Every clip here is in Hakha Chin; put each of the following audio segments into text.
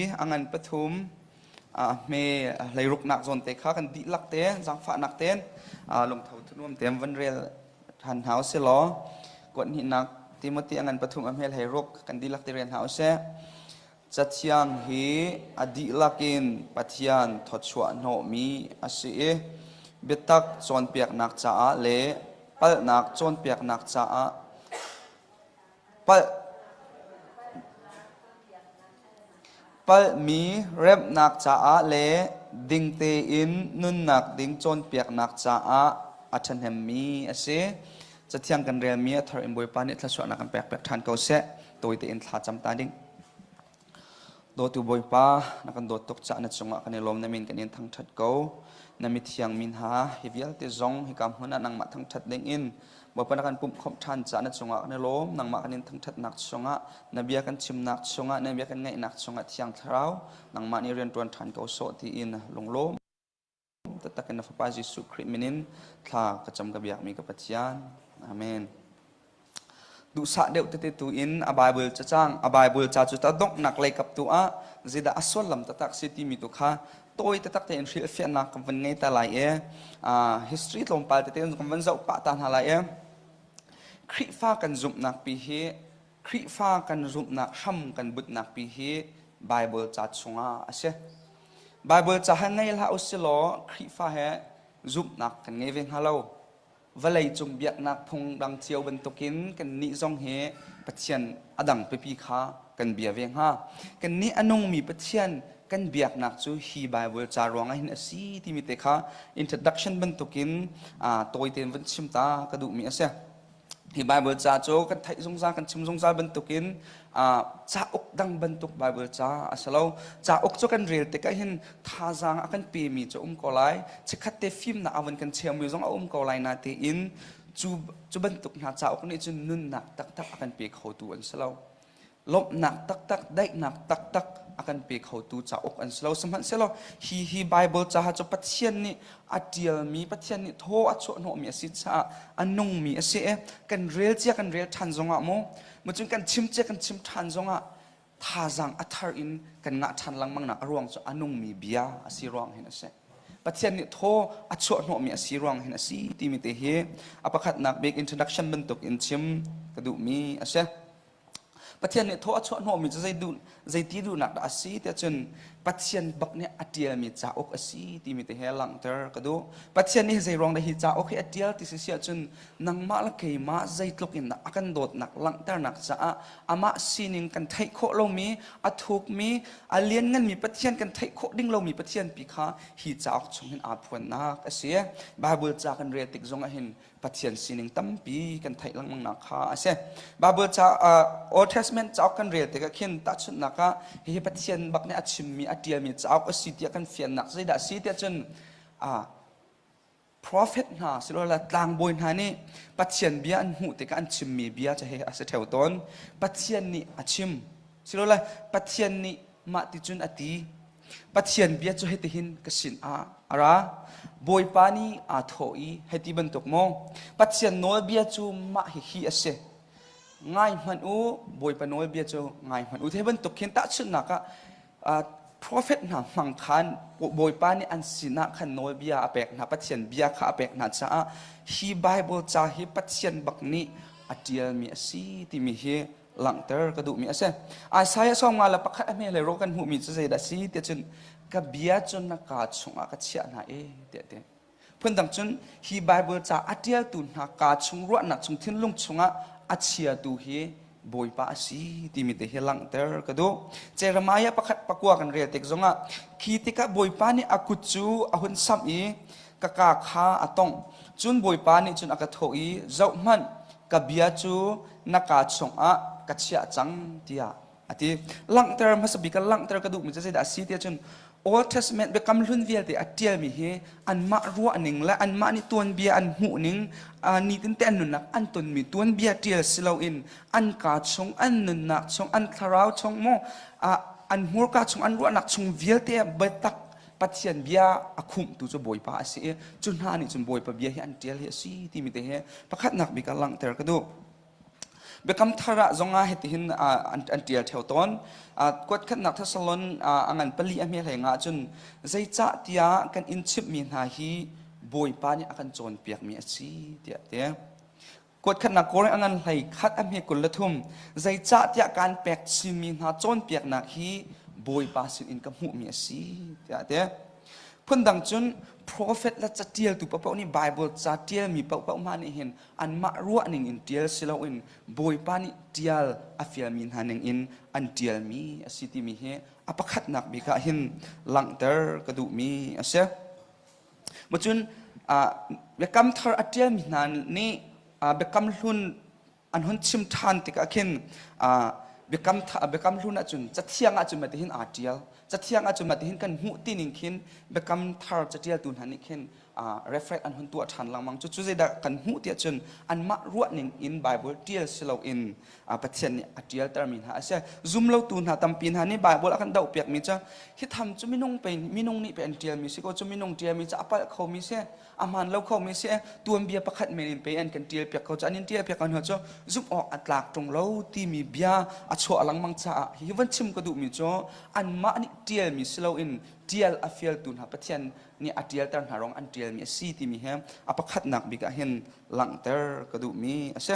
a ngan pathum hme leiruknak zawn te kha kan dihlak ten zangfahnak ten lungtho thunuam tem van rel than hna usih law kuat hninak Timothy a ngan pathum a hmel hei ruk kan dihlak ti rian hna usih Cathiang hi a dihlak in Pathian thawchuahhnawhmi a si i biatak cawnpiaknak caah le palhnak cawnpiaknak caah palh palhmi remhnak caah le ding tein nunnak ding cawnpiaknak caah a ṭhahnemmi a si. Cathiang kan relmi a thar in Bawipa nih thluasuahnak kan pek piak ṭhan ko seh. Tawi tein thla cam ta ding. Dawtu Bawipa, na kan dawt tuk cah na cungah kan i lawm na min kan in thangṭhat ko. Na mithiang mi hna hi vialte zong hika hmun ah nangmah thangṭhat ding in Bawipa na kan pumhkhawmh ṭhan cah na cungah kan i lawm. Nangmah kan in thangṭhatnak chungah na bia kan chimnak chungah na bia kan ngaihnak chungah Thiang Thlarau nangmah nih rian ṭuan ṭhan ko sawh tiin lunglawm. Taktak in na fapa Jesuh Khrih min in thla ka cam ka biakmi ka Pathian. Amen. Duhsah deuh tete tu in a Bible ca cang a Bible ca cu ta donghnak lei kap tu ah zeidah a suallam taktak si timi tu kha tawi taktak tein hrilhfiahnak kan van ngei ta lai e history tlawmpal tete kan van zoh pah ta hna lai e Khrihfa kan zumhnak pi hi Khrihfa kan zumhnak hram kan butnak pi hi Baibal ca chungah a si. Baibal ca he ngei hlah u silaw Khrihfa he zumhnak kan ngei ve hna lo. Vawleicung biaknak phung dang cio bantukin kannih zong hi Pathian a dang pipi kha kan bia ve hnga. Kannih a nungmi Pathian kan biaknak cu hi Baibal ca ruangah hin a si timi te kha introduction bantukin tawi tein vun chim ta ka duhmi a si. Hi Bible ca cu kan theih zungzal, kan chim zungzal bantukin uh, cauk dang bantuk Bible ca a si lo. Cauk cu kan rel tikah hin thazaang a kan pemi cu um ko lai. Chikhat te fim na awan kan chiammi zong a um ko lai na tiin cu, cu bantuk hna cauk nih cun nunnak taktak a kan pe khotu an si lo. lawmhnak taktak daihnak taktak a kan pe khotu cauk an si lo sihmanhsehlaw hi hi Bible caha cu Pathian nih a ṭialmi Pathian nih thaw a chuahhnawhmi a si caah a nungmi a si i kan rel cia kan rel ṭhan zongah maw mu cun kan chim cia kan chim ṭhan zongah thazaang a thar in kan ngah ṭhan lengmangnak a ruang cu a nungmi bia a si ruang hin a si Pathian nih thaw a chuahhnawhmi a si ruang hin a si timi te hi a pakhatnak bik introduction bantuk in chim ka duhmi a si. Pathian nih thaw a chuah hnawhmi cu zeiti duhnak dah a si tiah cun Pathian bak nih a ṭialmi cauk a si timi te he langhter ka duh. Pathian nih zeiruang dah hi cauk hi a ṭial ti si siah cun nangmah le keimah zeitluk in a kan dawtnak langhternak caah amah sining kan theih khawh lomi, a thukmi, a liannganmi Pathian kan theih khawh ding lomi Pathian pi kha hi cauk chungin aa phuannak a si. Baibal ca kan rel tik zongah hin Pathian sining tampi kan theih lengmangnak kha a si. Bible ca uh, Old Testament cauk kan rel tikah khin tahchunhnak ah hihi Pathian bak nih a chimmi a ṭialmi cauk a si tiah kan fiannak zeidah a si tiah cun uh, profet hna silola tlangbawi hna nih Pathian bia an hmuh tikah an chimmi bia cu he a si theo tawn. Pathian nih a chim silola Pathian nih mah ti cun ati Pathian bia cu hiti hin ka sin ah a ra Bawipa nih aa thawh i heti bantuk maw Pathian nawlbia cu mah hi hi a si ngai hmanh u Bawipa nawlbia cu ngai hmanh u Hi bantuk hin tahchunhnak ah profet hna hmang khan Bawipa nih an sinah khan nawlbia a pek hna Pathian bia kha a pek hna caah hi Bible ca hi Pathian bak nih a ṭialmi a si timi hi langhter ka duhmi a si Isaiah sawmnga le pakhat a hme le ro kan hmuhmi cu zeidah si tiah cun ka bia cu na kaa chungah ka chiah hna e tiah ti phundang cun hi Bible ca a ṭialtu hna kaa chung ruahnak chung thinlung chungah a chiatu hi Bawipa a si timi te hi langhter ka duh Jeremiah pakhat pakua kan rel tik zongah khi tikah Bawipa nih a kut cu a hun samh i ka kaa kha a tongh cun Bawipa nih cun a ka thawh i zoh hmanh ka bia cu na ka chungah ka chiah cang tiah a ti langhter hmasa bik langhter ka duhmi cu zeidah a si tiah cun Old Testament biakam hlun vialte a ṭialmi hi anmah ruahning le anmah nih tuanbia an hmuhning nitin an nunnak an tonmi tuanbia ṭial si loin an kaa chung an nunnak chung an thlarau chung maw an hmurka chung an ruahnak chung vialte biatak Pathian bia a khumhtu cu Bawipa a si i cu hna nih cun Bawipa bia hi an ṭial hi a si timi te hi pakhatnak bik ah langhter ka duh. Biakam thar ah zongah hitihin an ṭial theo tawn. Kuat khatnak Thessalon a ngan pali a hme hleng ahcun zeicah tiah kan in chimhmi hna hi Bawipa nih a kan cawnpiakmi a si tiah ti. Kuatkhatnak kawlreng a ngan hlei khat a hme kul le thum zeicahtiah kaan pek simi hna cawnpiaknak hi Bawipa sinin ka hmuhmi a si tiah a ti. Phundang cun profet le catialtu paoh nih Baibal ca ṭialmi paoh hna nih hin anmah ruahning in ṭial si loin Bawipa nih ṭial a fialmi hna ningin an ṭialmi a si timi hi a pakhatnak bik ah hin langhter ka duhmi a si. Macun biakam thar a ṭialmi hna nih biakam hlun an hun chim ṭhan tikah khin biakam hlun ahcun cathiang ahcun mah tihin aa ṭial. Cathiang ahcun mah tihin kan hmuh tining khin biakam thar caṭialtu hna nih khin reflect an hun tuah ṭhan lengmang. Cucu zeidah kan hmuh tiah cun anmah ruahning in Baibal ṭial si loin Pathian nih a ṭialtermi hna a si. Zumlotu hna tampi hna nih Baibal a kan dohpiakmi cu hi tham cu minung pe minung nih pe an ṭialmi si ko cu minung ṭialmi cu a palh khomi si a hmaan lo khomi si tuanbia pakhat men in pe an kan ṭialpiak ko cu an in ṭialpiak hna cu zumh awk a tlak ṭung lo timi bia a chuah lengmang caah hi van chim ka duhmi cu anmah nih ṭialmi si loin ṭial a fialtu hna Pathian nih a ṭialter hna rong an ṭialmi a si timi he a pakhatnak bik ah hin langhter ka duhmi a si.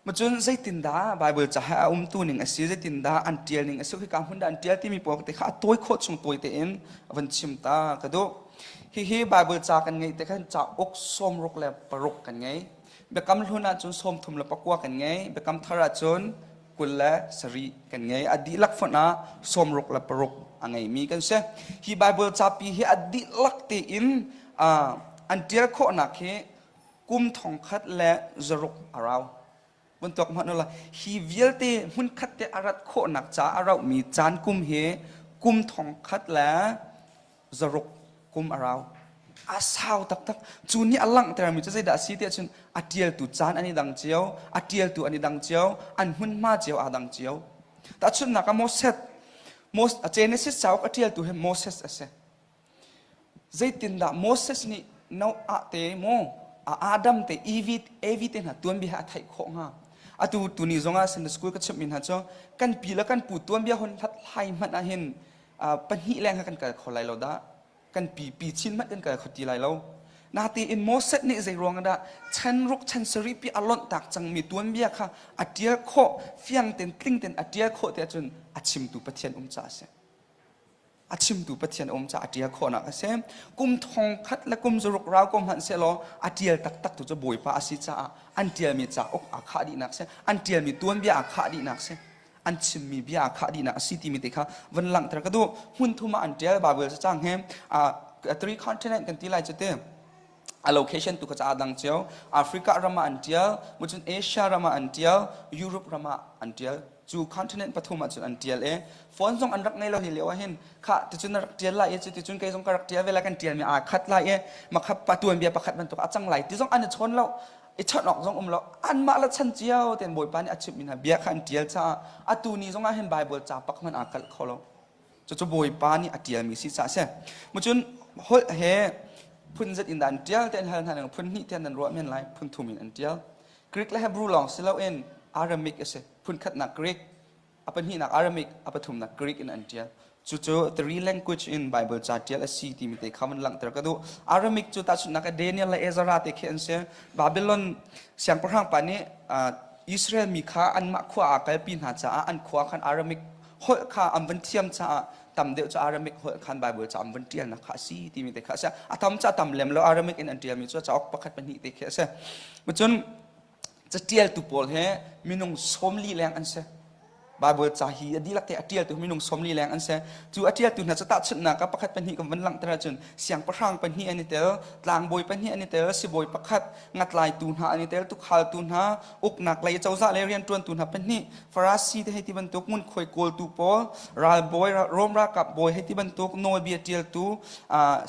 Macun zeitindah Baibal cahah a umtu ning a si, zeitindah an ṭial ning a si, khika hmun dah an ṭial timi pawl te kha a tawi khawh chung tawi tein a van chim ta ka duh. Hihi Baibal ca kan ngeih tikhan cauk sawmruk le paruk kan ngei. Biakam hlun ahcun sawmthum le pakua kan ngei. Biakam thar ahcun kul le sari kan ngei. A dihlak fonh ah sawmruk le paruk a ngeimi kan si. Hi Baibal capi hi a dihlak tein an ṭial khawhnak hi kum thong khat le zaruk a rau vun tuak hmanh la hi vialte hmun khat te a rat khawhnak ca a rauhmi caan kum hi kum thong khat le zaruk kum a rau a sau taktak cu ni a langhtermi cu zeidah a si tiah cun a ṭialtu caan an i dang cio a ṭialtu an i dang cio an hmunhma cio aa dang cio tahchunhnak ah Moses Moses Genesis cauk a ṭialtu hi Moses a si Zeitindah Moses nih Noah te maw Adam te Evi te hna tuanbia a theih khawh hnga atu tuni zongah Sunday school ka chimhmi hna cu kan pi le kan pu tuanbia hon hlathlai hmanh ah hin pahnih leng kha kan kal kho lai lo dah kan pi pi chin hmanh kan kal kho ti lai lo natein Moses nih zei ruang dah chan ruk chan sari pi a lonh tak cangmi tuanbia kha a tial khawh fiang ten tling ten a tial khawh ti ahcun a chimtu Pathian um ca a si a chimtu pathian um ca a ṭial khawhnak a si kum thong khat le kum zaruk rau ko hmanh sehlaw a ṭial taktak tu cu bawipa a si caah an ṭialmi ca uk aa khah dihnak si an ṭialmi tuanbia aa khah dihnak si an chimmi bia aa khah dihnak a si timi te kha van langhter ka duh hmun thum ah an ṭial bible cacang he a three continent kan ti lai cu te a location tu kha ca dang cio Africa rama an tial mucun Asia rama an tial Europe rama an tial cu continent pathum ah cun an tial e phone zong an rak nei lo hi leo hin kha ticun na rak tial lai e cuticun kai zong ka rak tial vela kan tial mi aa khat lai e makhap pa tuan bia pakhat ban tuk a cang lai ti zong an i chon lo i chon ok zong um lo an mah la chan cio ten bawipa nih a chimh min ha bia kha an tial cha a tu ni zong ah hin bible ca pak man aa kal kho lo cucu bawipa nih a ṭialmi si ca a si macun holh he phun zat in dah an ṭial tiah hal hna phun hnih tiah nan ruah men lai phun thum in an ṭial Greek le Hebrew lawng si loin Aramaic a si phun khatnak Greek a pahnihnak Aramaic a pathumnak Greek in an ṭial cucu three language in Bible ca ṭial a si timi te kha van langhter ka duh Aramaic cu tahchunhnak Daniel le Ezra te khi an si Babylon siangpahrang pa nih Israel mi kha anmah khua ah kalpi hna caah an khua khan Aramaic holh kha an van thiam caah tam deuh cu Arabic holh khan Bible ca an van ṭialnak kha a si timi te kha a si a tam ca tam lem lo Arabic in an ṭialmi cu cauk pakhat pahnih te khi a si cun caṭialtu pawl he minung sawmli leng an si Bible ca hi a dihlak te a ṭialtu minung sawmli leng an si cu a ṭialtu hna cu tahchunhnak ah pakhat pahnih kan van langhter ahcun siangpahrang pahnih an i tel tlangbawi pahnih an i tel sibawi pakhat ngatlaitu hna an i tel tukhal tu hna uknak lei cozah le riantuantu hna pahnih Farasi te hei ti bantuk ngunkhuai kawltu pawl ralbawi Rome ralkap bawi hei ti bantuk nawlbia tialtu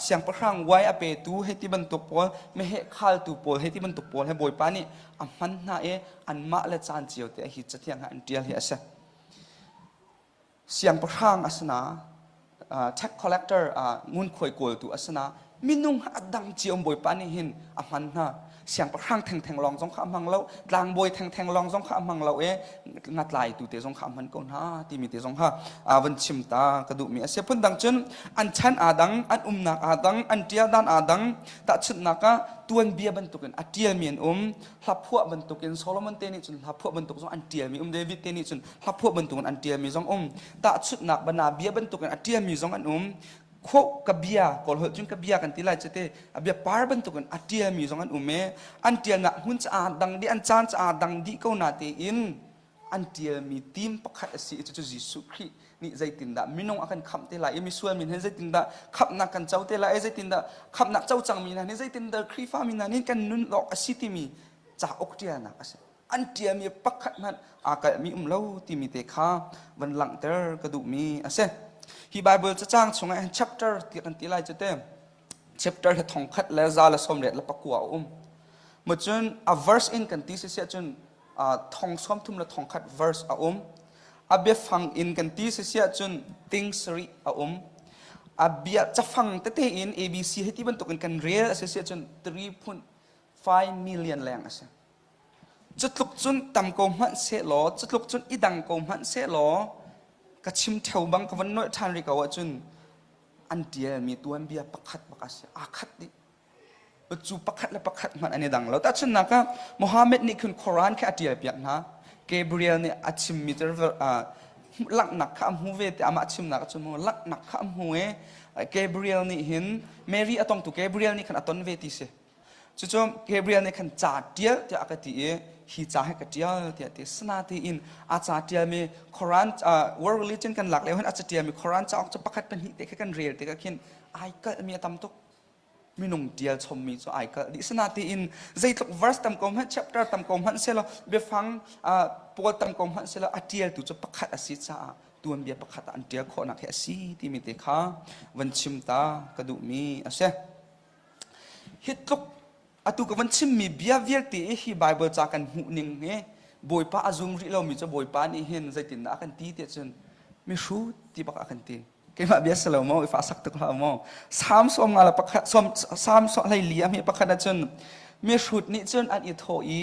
siangpahrang wai a petu hei ti bantuk pawl meheh khaltu pawl hei ti bantuk pawl he bawipa nih a hman hna i anmah le caan cio te a hi cathiang ha an tial hi a si siangpahrang a si na tax collector ngunkhuai kawltu a si na minung adang ciom bawipa nih hin a hman hna siangpahrang thengtheng lawng zong kha a hmang lo tlangbawi thengtheng lawng zong kha a hmang lo e ngatlai tu te zong kha a hman ko hna timi te zong kha van chim ta ka duhmi a si phun dang cun an chan aa dang an umnak aa dang an ṭia dan aa dang tahchunhnak ah tuanbia bantukin a ṭialmi an um hlaphuah bantuk in Solomon te nih cun hlaphuah bantuk zong an ṭialmi um David te nih cun hlaphuah bantuk in an ṭialmi zong um tahchunhnak bana bia bantuk in a ṭialmi zong an um kho ka bia kawl holh cun ka bia kan ti lai cete a bia par bantuk in a ṭialmi zong an um e an ṭialnak hmun caah dang dih an caan caah dang dih ko na tein an ṭialmi tim pakhat a si i cucu Jesuh Khrih nih zeitindah minung a kan khamh te lai i misual min hin zeitindah khamhnak kan co te lai i zeitindah khamhnak co cangmi hna nih zeitindah Khrihfami hna nih kan nun lawk a si timi cauk ṭialnak a si an ṭialmi pakhat hmanh aa kalhmi um lo timi te kha van langhter ka duhmi a si hi Bible cacang chungah chapter ti kan ti lai cu te chapter le thongkhat le za le sawm let le pakua a um mo cun a verse in kan ti si si cun thong sawmthum le thongkhat verse a um a biafang in kan ti sisia cun things ri a um a bia cafang tete in abc hi ti bantukin kan rel a si sia cun 3.5 million leng a si cutluk cun tam ko hmanh se law cutluk cun i dang ko hmanh se law ka chim theo bang ka van noih than ri ko ahcun an tialmi tuan bia pakhat bak a si aa khat dih cu pakhat le pakhat hmanh an i dang lo tahchunnak ah Muhammad nih khin Quran kha a ṭial piak hna Gabriel nih a chimmi cu langhnak kha a hmu ve tiah amah chimnak cu mu langhnak kha a hmu i Gabriel nih hin Mary a tongtu Gabriel nih khan a ton ve ti si cucu Gabriel nih khan ca ṭial tiah a ka ti i hi ca hi ka ṭial tiah ti sana tiin a ca ṭialmi Quran world religion kan lak lio hin a ca ṭialmi Quran cauk cu pakhat pahnih te kha kan rel tikah khin ai kalhmi a tam tuk minung tial chommi cu ai kalh dih sinatiin zeitluk verse tam ko hmanh chapter tam ko hmanh selaw biafang uh, pawl tam ko hmanh selaw a tialtu cu pakhat a si caah tuanbia pakhat ah an tial khawhnak hi a si timi te kha van chim ta ka duhmi a si hi tluk atu ka van chimmi bia vialte hi bible ca kan hmuhning hi bawipa a zum rih lomi cu bawipa nih hin zeitindah a kan ti tiah cun mihrut ti bak a kan ti keimah bia si lo maw i fahsak tuk hlah maw sam sawm nga le pakhat sawm sam sawm hlei li a mi pakhat ahcun mi hrut nih cun an i thawh i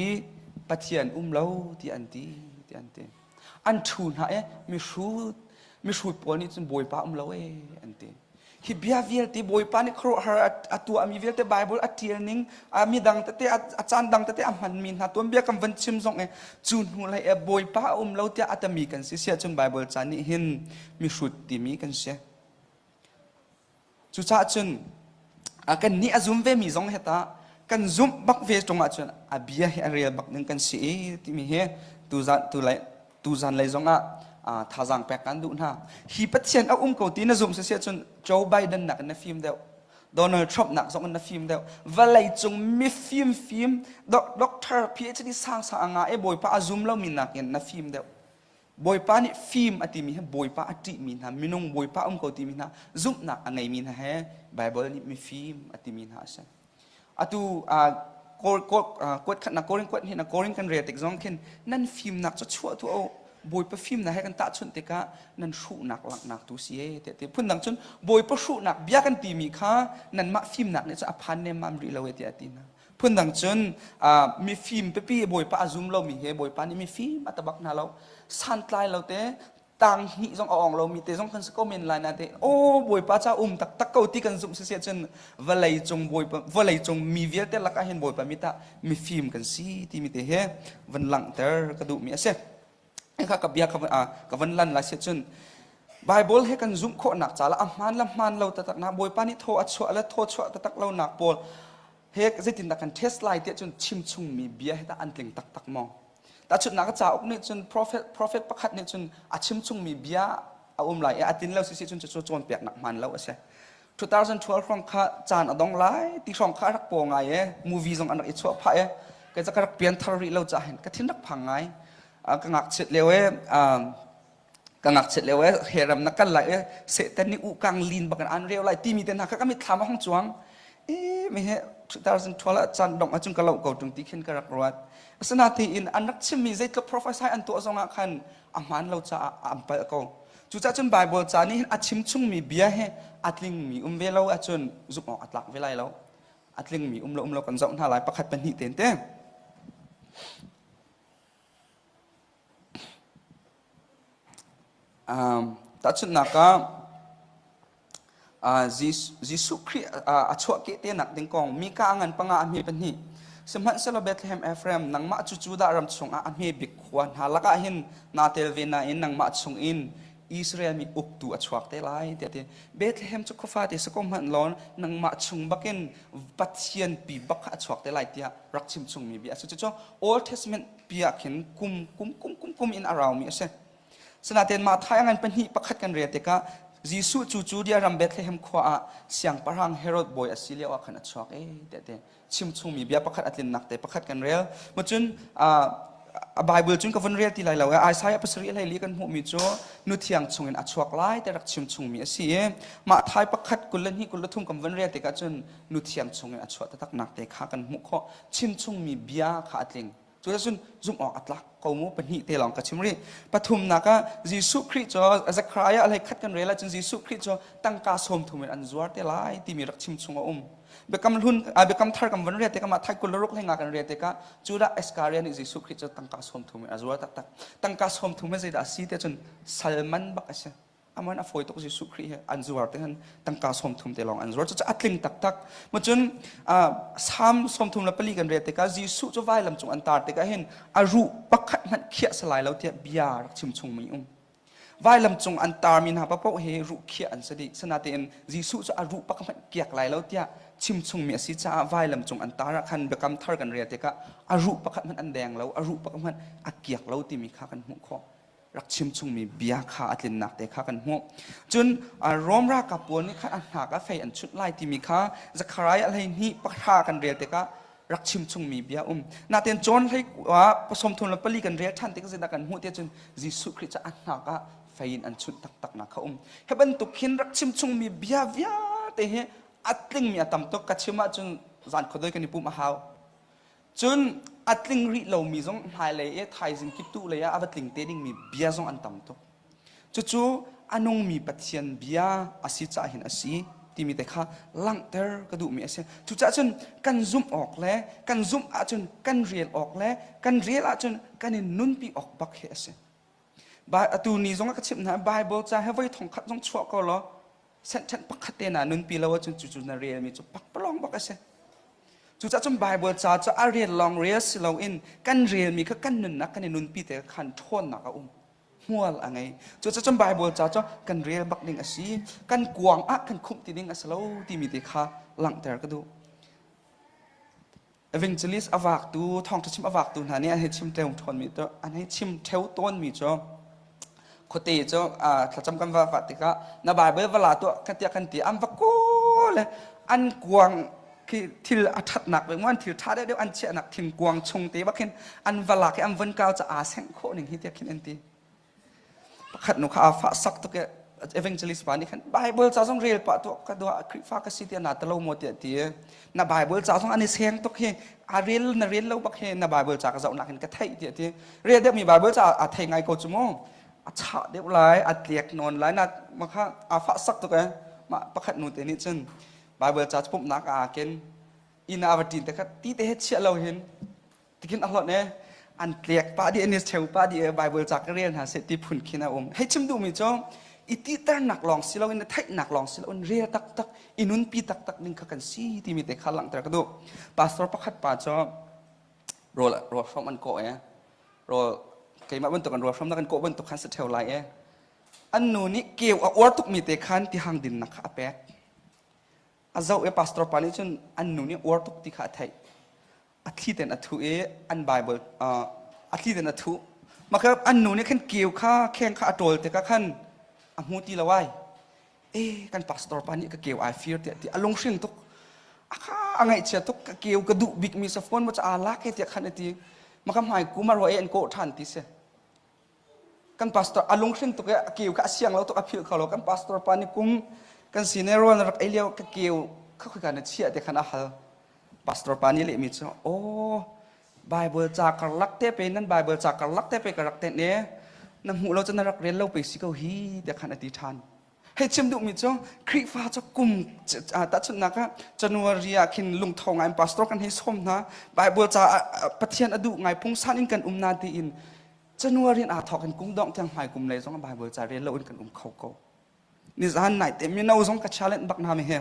pathian um lo ti an ti ti an ti an thu hna e mi hrut mi hrut pawl nih cun bawipa um lo e an ti hi bia vialte bawipa nih khuaruahhar a tuahmi vialte bible a tial ning a mi dang tete a caan dang tete a hmanmi hna tuanbia kan van chim zong e cu hnu lei e bawipa a um lo tiah a tami kan si sia cun bible caan nih hin mihrut timi kan si. Cucaah cun kan nih a zum vemi zong he tah kan zumh bak ve ṭung ahcun a bia hi a rel bak ding kan si i timi hi tuzan tulai tuzan lei zongah thazaang pek kan duh hna hi pathian a um ko ti na zumh sisia cun Joe Biden nak na fim deuh Donald Trump nak zong na fim deuh vawlei cung mi fim fim doctor PhD sang sang nga e bawipa a zum lo mi nak in na fim deuh Bawipa nih fim a timi hi Bawipa a ṭihmi hna, minung Bawipa um ko timi hna, zumhnak a ngeimi hna he Baibal nih mifim a timi hna a si. Atu kuat khatnak Korin kuat hna Korin kan rel tik zong khin nan fimnak cu chuah tu o Bawipa fimnak he kan tahchunh tikah nan hruhnak laknak tu si e te te phundang cun Bawipa hruhnak bia kan timi kha nanmah fimnak nih cu a phan nemmam rih lo e ti a ti hna phundang cun mifim pipi bawipa a zum lomi he bawipa nih mifim a tabak hna lo santlai lo te tang hnih zong a ong lomi te zong kan si ko men lai na te o bawipa ca um taktak ko ti kan zumh sisi cun vawlei cung bawipa vawlei cung mi vialte lakah hin bawipa mi ta mifim kan si timi te he van langhter ka duhmi a si kha ka bia ka van lan lai si cun Bible he kan zumh khawhnak caah a hmaan le hmaan lo taktaknak Bawipa nih thaw a chuah le thaw chuah taktak lonak pawl he zeitindah kan test lai tiah cun chimchungmi bia he tah an tling taktak maw tahchunhnak cauk nih cun prophet prophet pakhat nih cun a chimchungmi bia a um lai i a tin lo si si cun cu cawnpiaknak hmaan lo a si 2012 hrawng kha caan a dong lai ti hrawng kha rak paw ngai e movie zong an rak i chuah phah e ka ka rak pian thar rih lo cha hen ka thin rak phang ngai ka ngak chet leo e ka ngak chet leo e he ram na kal lai e setan ni u kang lin bakan an reo lai ti mi ten ha ka kami thama hong chuang e me he 2012 a chan dong a chung ka lo ko tung ti khen ka rak ruat asana ti in an rak chim mi zeitluk professor an to zong ah khan a man lo cha am pal ko Cucah cun Baibal ca nih hin a chimchungmi bia hi a tlingmi um ve lo ahcun zumh awk a tlak ve lai lo. A tlingmi um lo um lo kan zoh hna lai pakhat pahnih ten te. Um, tahchunhnak ah Jesuh Khrih a chuahkeh te nak ding kong mi ka ngan panga a hme pahnih sihmanhsehlaw Bethlehem Ephraim nangmah cu Judah ram chungah a hme bik khua hna lakah hin naa tel ve nain nangmah chung in Israel mi uktu a chuak te lai tiah ti Bethlehem cu khufa te sako hmanh lawn nangmah chung bakin Pathian pi bak a chuak te lai tiah rak chim chung mi bia a si cucu Old Testament piah khin kum kum kum kum in a rau mi a si Sinaten mah thai angan pahnih pakhat kan re tikah Jesuh cu cu dia ram Bethlehem khua ah siangpahrang Herod bawi a si lio ah khan a chuak i tehte chimchungmi bia pakhat a tlinnak te pakhat kan rel. Macun a Bible cun ka vun rel ti lai lo. Isaiah pasarih leili kan hmuhmi cu nu thiang chungin a chuak lai te rak chimchungmi a si i mah thai pakhat kul le hnih kul le thum kan vun rel tikah cun nu thiang chungin a chuah taktaknak te kha kan hmuh khawh. Chimchungmi bia kha a tling. Cuticun zumh awk a tlak ko mu pahnih te lawng ka chim rih. Pathumnak ah Jesuh Khrih cu Zechariah lei khat kan rel ahcun Jesuh Khrih cu tangka sawmthum in an zuar te lai timi rak chim chung a um. Biakam hlun biakam thar kan van riah tikah mah thai kul le ruk leng ah kan riah tikah cu dah Iscariah nih Jesuh Khrih cu tangka sawmthum in a zuar taktak. Tangka sawmthum in zeidah a si ti cun sal man bak a si. aman a fawi tuk Jesuh Khrih he an zuar te han tangka som thum te long an zuar cucu atling taktak mo cun sam som thum la pali kan re te ka Jesuh cu vai lam cung an tar te ka hin a ru pakhat hmat khia salai lo tia bia rak chim chung mi um vai lam cung an tar min ha pa po he ru khia an sadi sanatein Jesuh cu a ru pakhat kiak lai lo tia chim chung mi asi cha vai lam cung an tar khan bekam thar kan re te ka a ru pakhat man an deng lo a ru pakhat man a kiak lo ti mi kha kan hmu kho rak chimchungmi bia kha a tlinnak te kha kan hmuh. Cun Rom ralkap pawl nih khan a hnak a fei an chunh lai timi kha Zekhariah hleihnih pahra kan rel tikah rak chimchungmi bia um. Natein John hlei pasawm thum le pali kan rel ṭhan tikah zindah kan hmuh tiah cun Jesuh Khrih cu a hnak ah fei in an chunh taktaknak kha um. Hi bantuk hin rak chimchungmi bia vialte hi a tlingmi a tam tuk ka chim ahcun zan khuadoi kan i pum a hau. Cun a tling rih lomi zong hmailei i thaizing kip tu lei ah a va tling te dingmi bia zong an tam tuk. Cucu a nungmi Pathian bia a si cah hin a si timi te kha langhter ka duhmi a si. Cucah cun kan zumh awk le kan zumh ahcun kan rel awk le kan rel ahcun kan in nunpi awk bak hi a si. Atu ni zong a ka chimh hna, Bible ca he voi thong khat zong chuah ko law sentence pakhat te na nunpi lo ahcun cucu na relmi cu pakpalawng bak a si cucahcun Baibal ca cu a rel lawng rel si loin kan relmi kha kan nunnak kan i nunpi te kha khan ṭhawnnak a um hmual a ngei cucahcun Baibal ca cu kan rel bak ding a si kan kuang ah kan khumh ti ding a si lo timi te kha langhter ka duh evangelist a vaktu thawngṭha chim a vaktu hna nih an hei chim ṭeung ṭhawnmi cu an hei chim ṭheu tawnmi cu khuate cu thlacam kan va vat tikah na baibal va la tuah ka tiah kan ti an va kawl an kuang khi thil a ṭhatnak ve an thil ṭha deuh an chiahnak thingkuang chung te bak hin an va lak i an von kau ca aa sengh khawh ning hi tiah khin an ti pakhat nu kha a fah sak tuk i evangelist pa nih khan Bible ca zong rel pah tuah ka dua Khrihfa ka si tiah na ta lo maw tiah ti na Bible ca zong an i seng tuk hi a rel na rel lo bak hi na Bible ca ka zoh nak in ka theih tiah ti rel deuh mi Bible ca a thei ngai ko cu mu a chah deuh lai a tliak nawn lai na ma kha a fah sak tuk eh ma pakhat nu te nih cun Bible ca pumhnak a ken ina a va ṭin te kha ti te he chiah lo hin tikin a hlawt e an tlek pa di anis cheu pa di bible cak rel hna se ti phun khin a um hei chim duhmi cu i ti ternak lawng si loin theihnak lawng si loin rel taktak i nun pi taktak ning kha kan si timi te kha langhter ka duh pastor pakhat pa cu rol rol hrom an ko e rol keimah bantuk an rol hrom na kan ko bantuk khan se theo lai e an nu nih keu a uar tukmi te khan ti hang din na kha a pek a zau e pastor pa nih cun an nu nih uar tuk ti kha a theih a thli ten a thu i an bible a thli ten a thu makher an nu nih khan keu kha kheng kha a ṭol te ka khan a hmu ti lo ai e kan pastor pa nih ka keu ai fir tiah ti a lunghring tuk a kha a ngaihchia tuk ka keu ka duh bik mi sa phone ma cha lak he tiah khan a ti makha hmai kuma ro e an kawh ṭhan ti si kan pastor a lunghrin tuk i a keu kha a siang lo tuk a philh kho lo kan pastor pa nih kum kan sine rual na rak ei lio ka keu kha khoi ka na chiah te khan a hal pastor pa nih lehmi cu aw bible ca karlak te pe nan bible ca karlak te pe ka rak te ne na hmuh lo cu na rak rel lo pe si ko hi te khan a ti ṭhan hei chim duhmi cu Khrihfa cu kum tahchunhnak ah January ah khin lungtho ngai pastor kan hei sawm hna Bible caah Pathian a duh ngai phungsan in kan um na tiin January in aa thawk in kum dongh tiang hmai kum lei zong Bible ca rel loin kan um kho ko. Nizan nai te mino zong ka challenge bak na me he.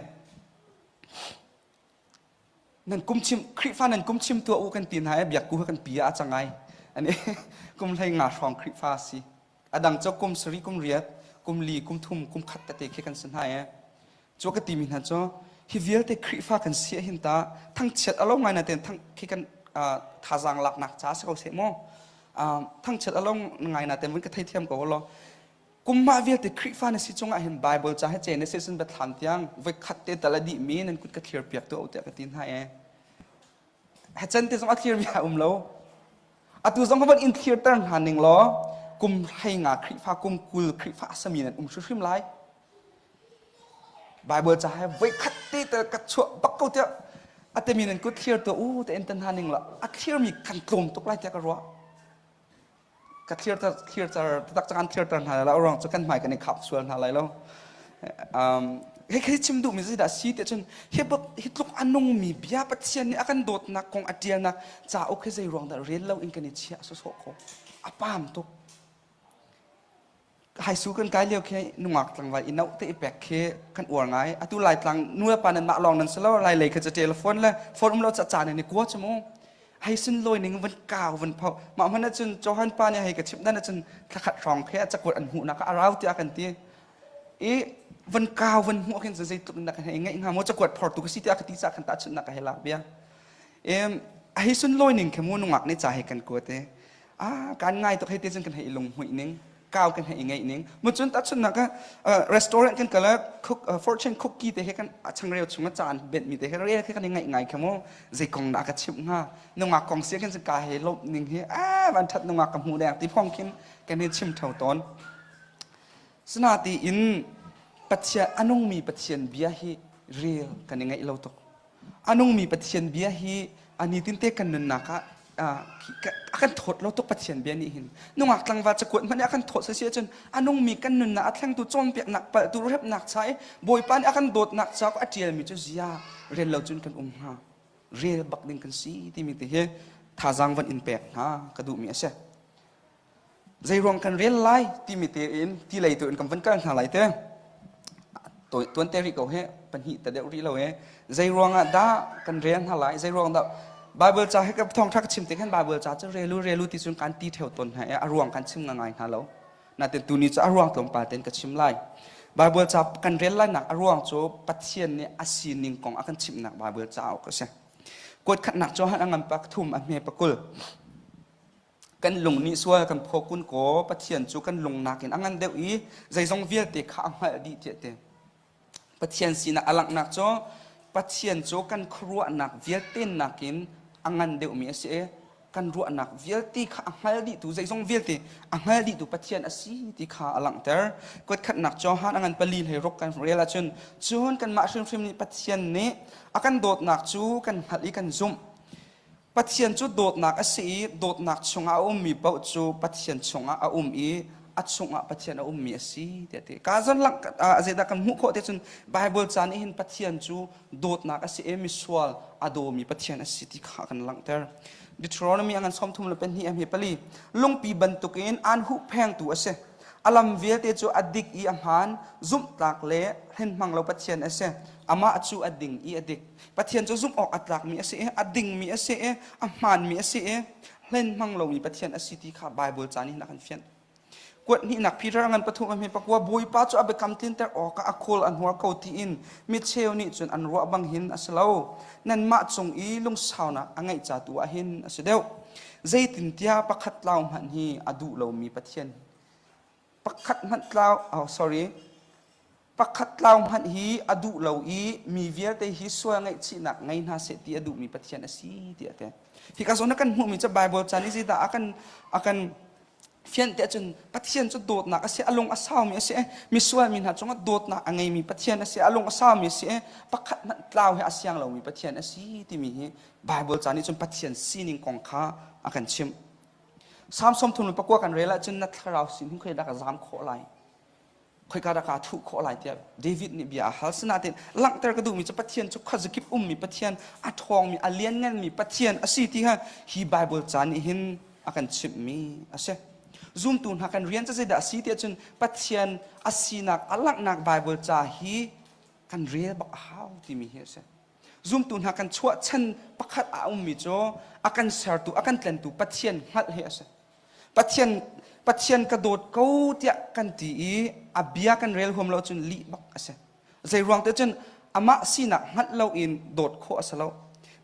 Nan kum chim Khrihfa nan kum chim tua u kan ti hna e biak ku kan pi a cangai. Ani kum hlei nga hrawng Khrihfa si. Adang cho kum sari kum riat, kum li, kum thum, kum khat tete khi kan sin hai e. Cu ka timi hna cu hi vialte Khrihfa kan si ah hin tah thangchiat a lo ngai na ten thang khi kan thazaang laknak ca si ko seh mu thangchiat a lo ngai na ten ka thei thiam ko lo kumma vialte Khrihfa na si chungah hin Bible ca he chen se sun ba thlan tiang voi khat te tal a dih mi nan kut ka thlir piak tu o tiah ka ti hna e Hacan te zong a thlir mi a um lo. Atu zong van in thlirter hna ning law kum hlei nga Khrihfa kum kul Khrihfa a sami nan um hrimhrim lai. Bible ca he voi khat te te ka chuah bak ko tiah atemi nan kut thlir tu u te en tan hna ning la a thlir mi kan tlawm tuk lai tiah ka ruah. ka thirter thirter taktak kan thirter hna lai lo rang cu kan hmai kan i khap sual hna lai lo um he he chim duh mi si da si te chun he bab hi tluk anung mi bia pathian nih akan dawtnak kong atialnak cauk he zei ruang dah rel lo in kan i chia so so ko apam tuk hai su kan kai leo khi nungak tlangval i note i pek khi kan uar ngai atu lai tlang nuya pa nan mah long nan selo lai lei kha telephone le phone um lo cha cha ne kwa chumu hai sun loi ning van kaw van phau ma man cun johan pa ne hai ka chip dan cun thakhat rong khi a chakwat an hu na ka arau tia kan ti i van kaw van hu khin zai tuk na ka hai ngai nga mo chakwat phor tu ka si tia ka ti sa kan ta chun na ka hela bia em hai sun loi ning khe mu nungak ne cha hai kan ko te ah kan ngai tuk hei ti cun kan hei lung hmuih ning kau kan hei ngei ning mu cun ta chun nak restaurant kan kala cook fortune cookie te he kan a chang reu chung a caan bet mi te he re khi kan ngai ngai kha mu zei kong na ka chim nga nunga kong sia kan ka he lop ning hi a van that nunga ka mu deng ti phong khin kan he chim thau ton sna ti in pathia anung mi pathian bia hi real kan ngai lo tuk a nungmi Pathian bia hi a nitin te kan nunnak ah a kan thawt lo tuk Pathian bia nih hin nungak tlangval cakuat hmanh a kan thawt sasi ahcun a nungmi kan nunnak a thlengtu cawnpiaknak palhtu repnak cha i bawipa nih a kan dawtnak ca a ṭialmi cu zia rel lo cun kan um hnga rel bak ding kan si timi te hi thazaang van in pek hna ka duhmi a si zeiruang kan rel lai timi tein ti lei tu in kan van kal hna lai te tuan te rih ko he pahnih ta deuh rih lo e zei ruangah dah kan rel hna lai zei ruang dah Bible ca he ka thong thak chim te khan Bible ca cu relu relu ti cun kan ti theo ton hna e a ruang kan chim ngai hna lo natin tuni cu a ruang tlawm pa ten ka chim lai Bible ca kan rel lai nak a ruang cu Pathian nih a sining kong a kan chimh nak Bible ca ok a si kuat khat nak cu han a ngan pak thum a hme pakul kan lung nih sual kan phaw kun ko pathian cu kan lung nakin a ngan deuh i zeizong vialte kha a hngalh dih tiah te pathian sinak a langhnak cu pathian cu kan khuaruahnak vialte nakin a ngan deuhmi a si i kan ruahnak vialte kha a hngal dihtu zeizong vialte a hngal dihtu pathian a si ti kha a langhter kuatkhatnak Johan a ngan pali hlei ruk kan rel ahcun cun kanmah hrimhrim nih pathian nih a kan dawtnak cu kan hngalh i kan zumh Pathian cu dawtnak a si i dawtnak chungah a ummi paoh cu Pathian chungah a um i a chungah Pathian a ummi a si tiah ti. Ka zan zeidah kan hmuh khawh te cun Baibal ca nih hin Pathian cu dawtnak a si i misual a dawmi Pathian a si ti kha kan langhter. Deuteronomy angan som thum le pahnih he pali lungpi bantukin an huhphengtu a si. A lam vialte cu a dik i a hmaan, zumhtlak le hrenhmang lo Pathian a si. Amah cu a ding i a dik. Pathian cu zumh awk a tlakmi a si i a dingmi a si i a hmaanmi a si i hlen hmang lomi Pathian a si ti kha Baibal caan in a kan fianh. Kuat hnihnak Peter a ngan pathum a hme pakua Bawipa cu a biakam tlinter awkah a khawl a hnual ko tiin micheu nih cun an ruah bang hin a si lo. Nanmah cung i lungsaunak a ngeih ca tu ah hin a si deuh. Zeitintiah pakhat tlau hmanh hi a duh lomi Pathian pakhat hmanh tlau oh sorry pakhat tlau hmanh hi a duh lo i mi vialte hi sual ngaihchihnak ngei hna seh ti a duhmi Pathian a si tiah te hi ka zon na kan hmuhmi cu Bible chan i zidah a kan a kan fian te cun Pathian cu dawtnak a si a lung a saumi a si misual mi hna cungah dawtnak a ngeimi Pathian a si a lung a saumi a si pakhat hmanh tlau he a siang lomi Pathian a si timi hi Bible chan i cun Pathian sining kong kha a kan chimh Samson thung pakua kan rel ahcun na thlarau sin hung khoi dak zam khawh lai khoika dah ka thuh khawh lai tiah David nih bia a hal sinain langhter ka duhmi cu Pathian cu khuazakip ummi Pathian a ṭhawngmi a liannganmi Pathian a si ti kha hi Baibal ca nih hin a kan chimhmi a si zumtu hna kan rian cu zeidah a si ti ahcun Pathian a sinak a langhnak Baibal ca hi kan rel bak a hau timi hi a si Zumtu hna kan chuah chan pakhat a ummi cu a kan sertu, a kan tlentu Pathian hngalh hi a si. Pathian Pathian ka dawt ko tiah kan ti i a bia kan rel huam lo cun lih bak a si. Zeiruang te cun amah sinak hngalh lo in dawt khawh a si lo.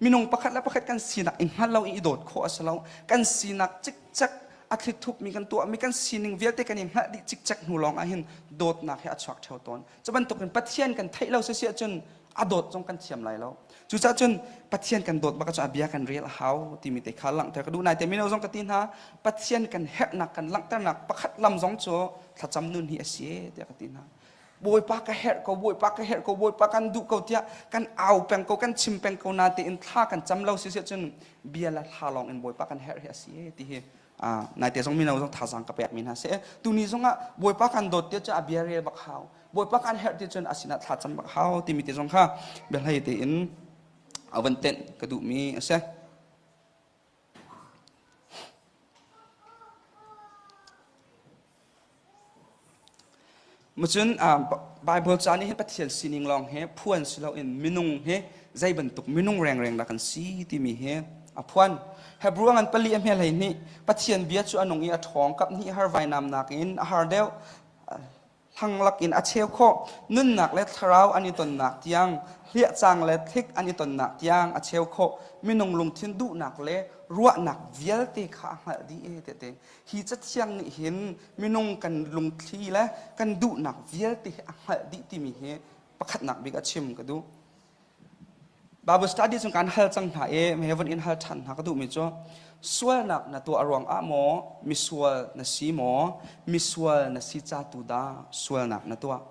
Minung pakhat le pakhat kan sinak i hngalh lo i i dawt khawh a si lo. Kan sinak cikcek a thlithup-mi kan tuahmi kan sining vialte kan i hngalh dih cikcek hnu lawng ah hin dawtnak hi a chuak theo tawn. Cu bantukin Pathian kan theih lo sisi ahcun a dawt zong kan thiam lai lo cucaah cun pathian kan dawt bak cun a bia kan rel a hau timi te kha langhter ka duh nai te mino zong ka ti hna pathian kan herhnak kan langhternak pakhat lam zong cu thlacam nun hi a si tiah ka ti hna bawipa ka herh ko bawipa ka herh ko bawipa kan duh ko tiah kan au peng ko kan chim peng ko na tein thla kan cam lo si se cun bia la thla lawng in bawipa kan herh hi a si ti hi naite zong mino zong thazang ka pekmi hna seh tuni zongah bawipa kan dawt tia cu a bia rel bak hau bawipa kan herh ti cun a sinah thla cam bak hau timi te zong kha biahlei tein avan tenh ka duhmi a si Macun Bible ca nih hin Pathian sining lawng hi phuan si loin minung hi zei bantuk minung rengreng dah kan si timi hi a phuan. Hebrew ngan pali a hmelei nih Pathian bia cu a nung i a ṭhawng kap hnih har vainamnak in a har deuh hlanglak in a cheu khawh nunnak le thlarau an i tonnak tiang hliahcang le thlik an i tonnak tiang a cheu khawh minung lungthin duhnak le ruahnak vialte kha a hngalh dih ee tete. hi cathiang nih hin minung kan lungthli le kan duhnak vialte hi a hngalh dih timi hi pakhatnak bik a chim ka duh Bible study cung kan hal cang hna i me heaven in hal ṭhan hna ka duhmi cu sualnak na tuah ruang ah maw misual na si maw misual na si ca tu dah sualnak na tuah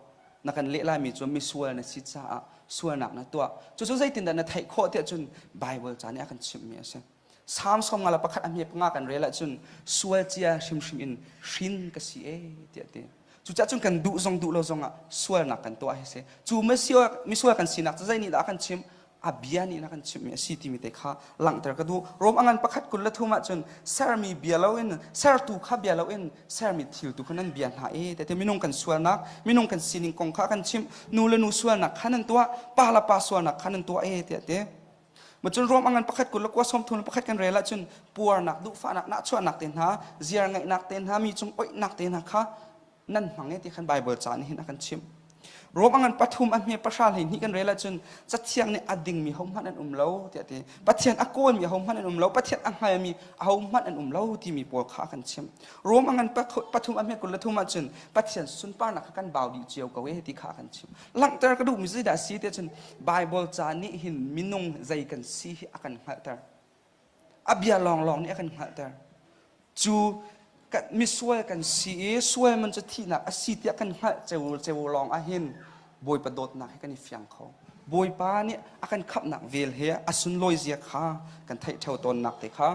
na kan leh laimi cu misual na si caah sualnak na tuah cucu zeitindah na theih khawh tiah cun Bible ca nih a kan chimhmi a si Salm sawm nga le pakhat a hme panga kan rel ahcun sual cia hrimhrim in hrin ka si e tiah ti. Cucaah cun kan duh zong duh lo zongah sualnak kan tuah hi si. Cu misual kan sinak cu zei nih dah a kan chimh? A bia nih a kan chimhmi a si timi te kha langhter ka duh. Rom a ngan pakhat kul le thum ahcun sermi bia loin sertu kha bia loin sermi thil tu kha nan bia hna e te minung kan sualnak minung kan sining kong kha kan chimh nu le nu sualnak kha nan tuah pa le pa sualnak kha nan tuah e tiah ti Macun ruam angan pakhat kul le kua sawmthum le pakhat kan rel ahcun puarnak, duhfahnak, nahchuahnak te hna, ziar ngaihnak te hna, mi cung oihnak te hna kha nan hmang e ti khan Bible ca nih hin a kan chimh. Rom angan pathum a hme pahra hlei hnih kan rel ahcun cathiang nih a dingmi hohmanh an um lo tiah ti Pathian a kawlmi ahohmanh an um lo Pathian a hngalmi ahohmanh an um lo timi pawl kha a kan chimh Rom angan pathum a hme kul le thum ahcun Pathian sunparnak kha kan bau dih cio ko e ti kha a kan chimh langhter ka duhmi zeidah a si ti cun Baibal ca nih hin minung zei kan si hi a kan hngalhter a bia lawnglawng nih a kan hngalhter cu kan, misual kan si i sual man cu thihnak a si tiah kan hngalh ceu ceu lawng ah hin Bawipa dawtnak hi kan i fiang kho Bawipa nih a kan khamhnak vel he a sunlawi zia kha kan theih ṭheo tawnnak te kha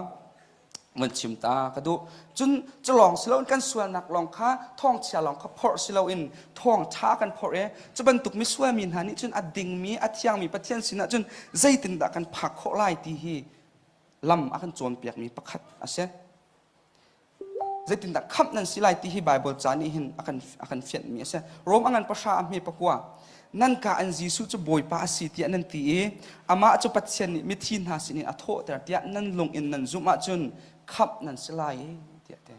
mun chim ta ka duh cun culawng si loin kan sualnak lawng kha thawngchia lawng kha phorh si loin thawngṭha kan phorh i cu bantuk misualmi hna nih cun a dingmi a thiangmi pathian sinah cun zeitindah kan phak khawh lai ti hi lam a kan cawnpiakmi pakhat a si zeitindah khamh nan si lai ti hi Baibal ca nih hin a kan a kan fianhmi a si Rom a ngan pahra a hme pakua Nangka an Jesuh cu Bawipa a si tiah nan ti i amah cu Pathian nih mithi hna sinin a thawhter tiah nan lung in nan zumh ahcun khamh nan si lai tiah te.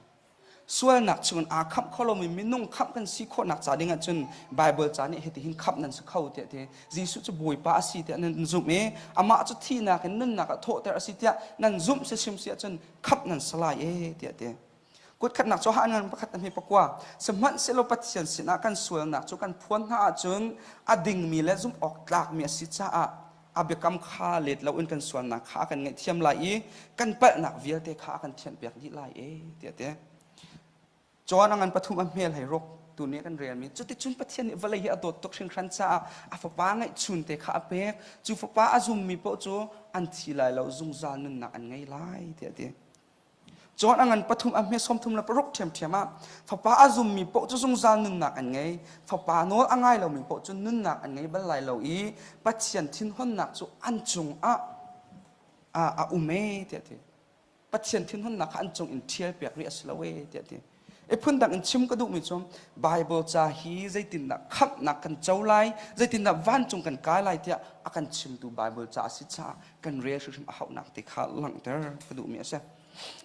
Sualnak chungin aa khamh kho lomi minung khamh kan si khawhnak ca ding ahcun Baibal ca nih hitihin khamh nan si kho tiah te. Jesuh cu Bawipa a si tiah nan zumh i amah cu thihnak in nunnak a thawhter a si tiah nan zumh si hrim si ahcun khamh nan si lai tiah te. Kutkhatnak cu han ngan pakhat hme pakua. Sihmanhsehlaw Pathian sinah kan sualnak cu kan phuan hna ahcun a dingmi le zumh awk tlakmi a si caah a biakam kha let loin kan sualnak kha a kan ngaihthiam lai i kan palhnak vialte kha a kan thianhpiak dih lai e tiah ti. John a ngan pathum a hmel hei ruk tu nih kan relmi cuticun Pathian nih vawlei hi a dawt tuk hringhran caah a fapa ngaihchun te kha a pek cu fapa a zummi paoh cu an thi lai lo zungzal nunnak an ngei lai tiah ti Cun a ngan pathum a hme sawm thum le paruk ṭhiamṭhiam ah fapa a zummi paoh cu zungzal nunnak an ngei fapa nawl a ngai lomi paoh cu nunnak an ngei bal lai lo i Pathian thinhunnak cu an cung ah a um e tiah a ti Pathian thinhunnak kha an cung in ṭhial piak rih a si lo e tiah a ti I phundang in chim ka duhmi cu Bible ca hi zeitindah khamhnak kan co lai, zeitindah vancung kan kai lai tiah a kan chimtu Bible ca a si caah kan rel hrimhrim a hauhnak ti kha langhter ka duhmi a si.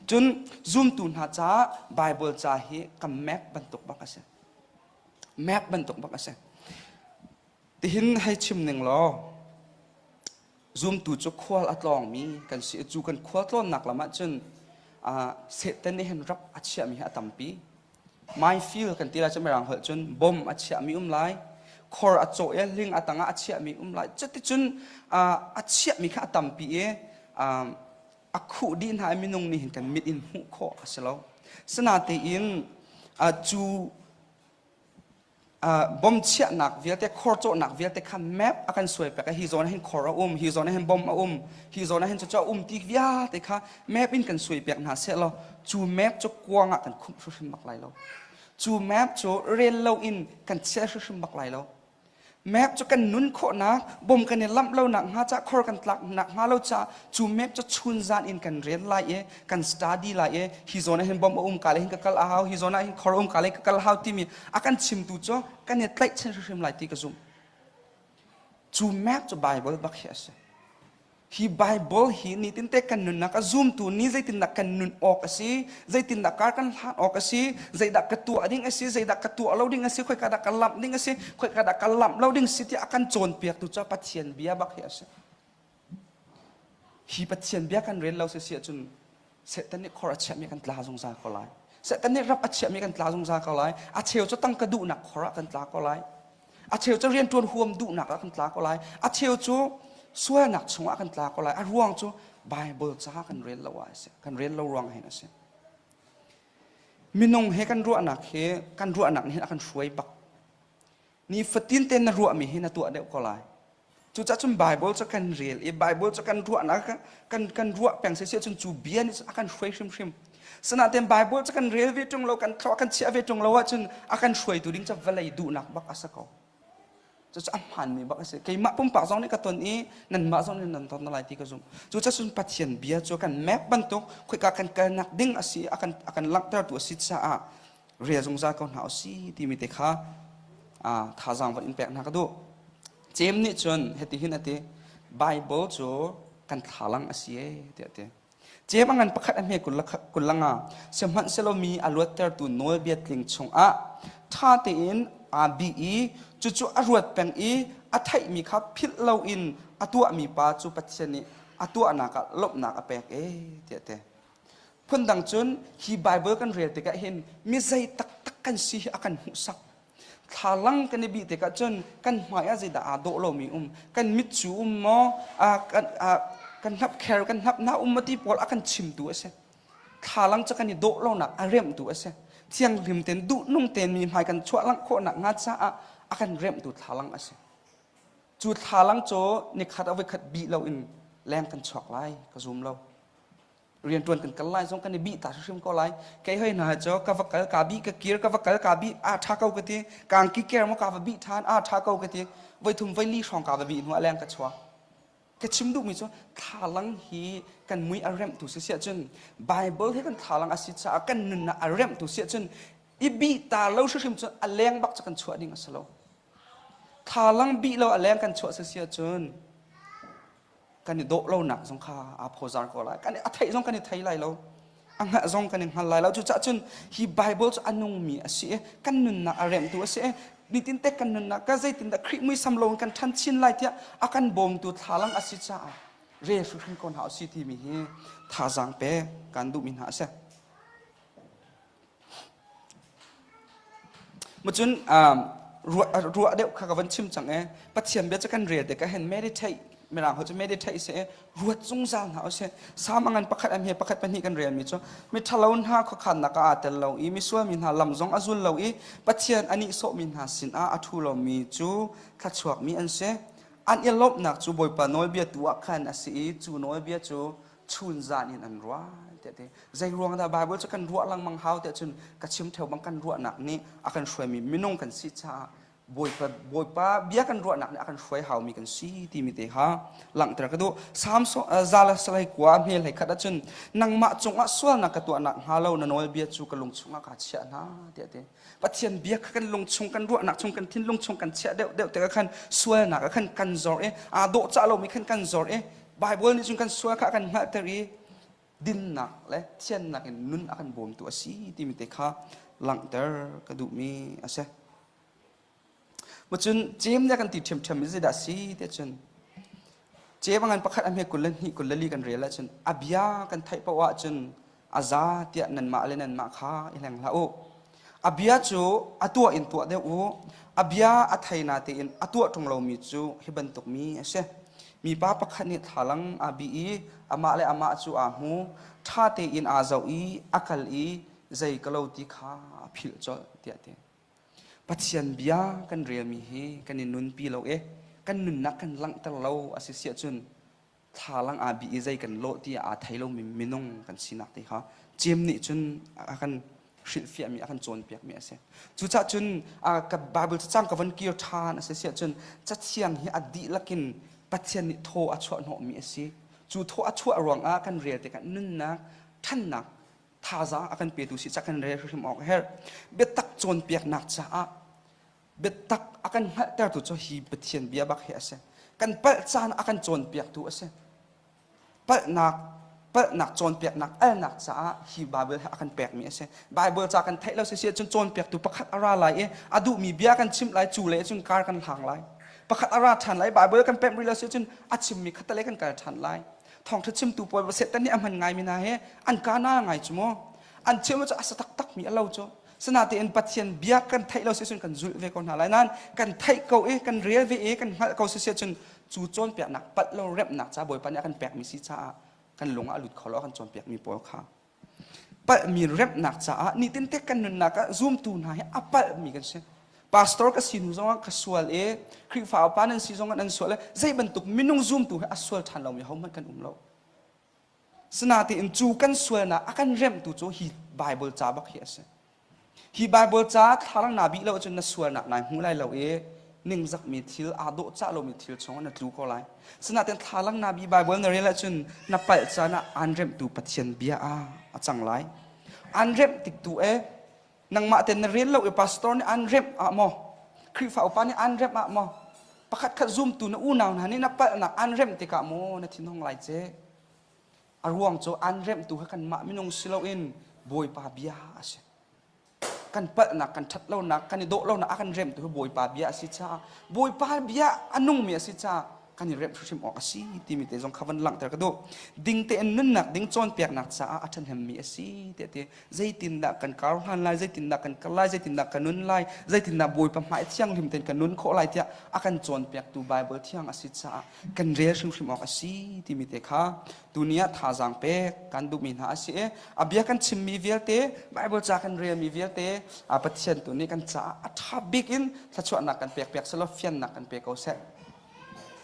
Cun zumtu hna caah Bible ca hi ka map bantuk bak a si. Map bantuk bak a si. Tihin hei chim ning law, zumtu cu khual a tlawngmi kan si i cu kan khua tlawnnak lam ah cun Satan nih hin rap a chiahmi hi a tampi. Minefield kan ti lai cu mirang holh cun bom a chiahmi um lai. Khor a cawh i hling a tangah a chiahmi um lai. Cuticun a chiahmi kha a tampi i a khuh dih hna i minung nih hin kan mit in hmuh khawh a si lo. Sinatein cu bomchiahnak vialte khor cawhnak vialte kha map a kan suai pek hi zawn hin khor a um hi zawn hin bom a um hi zawn hin cucu a um ti vialte kha map in kan suai pek hna seh law cu map cu kuang ah kan khumh hrimhrim bak lai lo cu map cu rel lo in kan chiah hrimhrim bak lai lo map cu kan nun khawhnak bom kan i lamh lonak hnga cah khor kan tlak nak hnga lo cah cu map cu chun zan in kan rel lai i kan study lai e hi zone hin bomb um ka le hin ka kal a hau hi zone hin khor um ka le ka kal hau timi a kan chimtu cu kan he tlaih chin hrim lai ti ka zum cu map cu bible bak hi ase hi bible hi ni tin te kan nunnak a zoom tu ni zeitin nak kan nun awk asi zeitin nak kar kan hlan awk asi zeidak ka tu ading asi zeidak ka tu alo ding asi khoi ka dak ka lamp ding asi khoi ka dak ka lamp lo ding si ti akan cawn piak tu ca pathian bia bak hi asi Hi Pathian bia kan rel lo sisi ahcun Satan nih khor a chiahmi kan tla zungzal ko lai. Satan nih rap a chiahmi kan tla zungzal ko lai. A cheu cu tangka duhnak khor ah kan tla ko lai. A cheu cu rianṭuan huam duhnak ah kan tla ko lai. A cheu cu sualnak chungah kan tla ko lai. A ruang cu Baibal caah kan rel lo a si. Kan rel lo ruang hin a si. Minung he kan ruahnak hi kan ruahnak nih hin a kan hruai bak. Nifatin te na ruahmi hi na tuah deuh ko lai. Cucah cun Bible cu kan rel i Bible cu kan ruahnak kan kan ruah peng sesai cun cu bia nih a kan hruai hrimhrim. Sinain Bible cu kan rel ve ṭung lo, kan thlaw kan chiah ve ṭung lo ahcun a kan hruaitu ding cu vawlei duhnak bak a si ko. Cucah a hmaanmi bak a si. Keimah pumpak zong nih ka ton i nanmah zong nih nan ton lai ti ka zumh. Cucah cun Pathian bia cu kan map bantuk, khoika kan kalnak ding a si, a kan, a kan langhtertu a si caah rel zungzal ko hna usih timi te kha thazaang van in pek hna ka duh Jem nih cun heti hin a ti Bible cu kan thlalang a si tiah a ti Jem a ngan pakhat a hme kullanga sihmanhsehlaw mi a luattertu nawlbia tling chungah ṭha tein aa bi i cucu a ruat peng i a theihmi kha philh loin a tuahmi pa cu Pathian nih a tuahnak ah lawmhnak a pek e tiah te Phundang cun hi Bible kan rel tikah hin mi zei taktak kan si hi a kan hmuhsak. Thlalang kan i bih tikah cun kan hmaiah zeidah aa dawh lomi um, kan mit cu um maw, kan, kan hnapkher, kan hnapna um maw ti pawl a kan chimtu a si. Thlalang cu kan i dawh lonak a remtu a si. Thianghlim ten, duhnung ten mi hmai kan chuahlang khawhnak hnga caah a kan remtu thlalang a si. Cu thlalang cu nikhat a voikhat bih loin leng kan chuak lai, ka zum lo. riantuan kan kal lai zong kan i bih ta hrim ko lai kei hoi hna cho ka va kal ka bi ka kir ka va kal ka bi a tha ko ka ti kang ki ker mo ka va bi than a tha ko ka ti voi thum voi li hrawng ka va bi hnu aleng ka chua ka chim duh mi chu thalang hi kan mui a remh tu si sia chun bible hi kan thalang a si cha kan nun na a remh tu sia chun i bi ta lo hrim chu a leng bak chu kan chua ding a si lo Thalang bih lo a leng kan chuah sasi ahcun kan i dawh lonak zong kha aa phozar ko lai. Kan i, a theih zong kan i thei lai lo. A hngalh zong kan i hngal lai lo. Cucaah cun hi Bible cu a nungmi a si i kan nunnak a remtu a si i nitinte kan nunnak ka zeitindah Khrih muisam loin kan ṭhan chin lai tiah a kan bawmtu thlalang a si caah rel hrimhrim ko hna u si timi hi thazaang pek kan duhmi hna a si. Macun ruah deuh kha ka van chim cang e. Pathian bia cu kan rel te ka hen meditate mirang ho cu meditate seh ruat zungzal hna u sih. Salm ngan pakhat am he pakhat pahnih kan relmi cu miṭhalo hna khuakhannak ah aa tel lo i misual mi hna lam zong a zul lo i Pathian a nihsawhmi hna sinah a ṭhu lomi cu thluachuakmi an si. An i lawmhnak cu Bawipa nawlbia tu ah khan a si i cu nawlbia cu chun zan in an ruah tiah ti zei ruang dah bible cu kan ruah lengmang hau tiah cun ka chim theo bang kan ruahnak nih a kan hruaimi minung kan si caah bawipa bawipa bia kan ruahnak nih a kan hruai haumi kan si timi te kha langhter ka duh samson zala salai kua hmel hlei khat ahcun nangmah cungah sualnak ka tuah nak hnga lo na nawlbia cu ka lung chungah kaa chiah hna tiah ti Pathian bia kha kan lung chung kan ruahnak chung kan thinlung chung kan chiah deuh deuh te khan sualnak khan kan zor i aa dawh cah lomi khan kan zor i Bible nih cun kan sual kha a kan hngalhter i dinnak le thiannak in nun a kan bawmtu a si timi te kha langhter ka duhmi a si. Macun cem le kan ti ṭhiamṭhiam in zeidah si tiah cun cem a ngan pakhat a hme kul le hnih kul le li kan rel ahcun a bia kan theih paoh ahcun a za tiah nanmah le nanmah kha i hleng hlah u. A bia cu a tuah in tuah deuh u. A bia a thei na tein a tuah ṭung lomi cu hi bantuk mi a si. Mipa pakhat nih thlalang aa bih i amah le amah cu aa hmu. Ṭha tein aa zoh i a kal i zei ka lo ti kha a philh colh tiah a ti. Pathian bia kan relmi hi kan i nunpi lo i kan nunnak kan langhter lo a si siah cun thlalang aa bih i zei kan lawh ti aa thei lomi minung kan sinak te kha cem nih cun a kan hrilhfiahmi a kan cawnpiakmi a si cucah cun ka Bible cacang ka von kir ṭhan a si siah cun cathiang hi a dihlak in Pathian nih thaw a chuah hnawhmi a si cu thaw a chuah ruangah kan rel tikah nunnak ṭhannak thazaang a kan petu si cak in re hrim awk a herh biatak cawnpiaknak caah biatak a kan hngalhtertu cu hi Pathian bia bak hi a si kan palh caan a kan cawnpiaktu a si palhnak palhnak cawnpiaknak alnak caah hi Baibal hi a kan pekmi a si Baibal ca kan theih lo si cun cawnpiaktu pakhat a ra lai i a duhmi bia kan chimh lai cu le cun kar kan hlang lai pakhat a ra ṭhan lai Baibal kan pemh rih lo si cun a chimmi kha tale kan kal ṭhan lai thawngtha chimtu puai setan nih a hman ngaimi hna he an kana ngai cu maw an chim cu a sa taktak mi alo cu sinatein pathian bia kan theih lo si cun kan zulh ve ko hna lai nan kan theih ko i kan rel ve i kan hngalh ko si cun cu cawn piaknak pat lo remnak ca bawipa nih a kan pek mi si caah kan lung ah a lut kho lo a kan cawn piak mi pawl kha palhmi remnak caah nitinte kan nunnak ah zumtu hna hi a palhmi kan si pastor ka si hnu zongah ka sual i Khrihfa upa nan si zongah nan sual i zei bantuk minung zumtu he a sual ṭhan lomi hohmanh kan um lo sinain cu kan sualnak a kan remhtu cu hi Bible ca bak hi a si Hi Baibal ca thlalang naa bih lo ahcun na sualnak nai hmu lai lo i ningzakmi thil, aa dawh cah lomi thil chungah na tlu ko lai. Sinain thlalang naa bih Baibal na rel ahcun na palh caan ah aan remhtu Pathian bia ah a cang lai. Aan remh tik tu e nangmah ten na rel lo i pastor nih aan remh ah maw Khrihfa upa nih aan remh ah maw pakhat khat zumtu na unau hna nih na palhnak aan remh tikah maw na thinhung lai ce? A ruang cu an remhtu kha kanmah minung si loin Bawipa bia a si. Kan palhnak, kan ṭhat lonak, kan i dawh lonak a kan remhtu hi Bawipa bia a si caah Bawipa bia a nungmi a si caah kan i remh hrimhrim awk a si timi te zong kha van langhter ka duh. Ding tein nunnak ding cawnpiaknak caah a ṭhahnemmi a si te ti. Zeitindah kan kar ohan lai, zeitindah kan kal lai, zeitindah kan nun lai, zeitindah Bawipa hmai thianghlim tein kan nun khawh lai tiah a kan cawnpiaktu Baibal thiang a si caah kan rel hrimhrim awk a si timi te kha tuni ah thazaang pek kan duhmi hna a si i a bia kan chimmi vialte Bible ca kan relmi vialte a Pathian tu nih kan caah a ṭha bik in thluachuahnak kan pekpiak selaw fiannak kan pe ko seh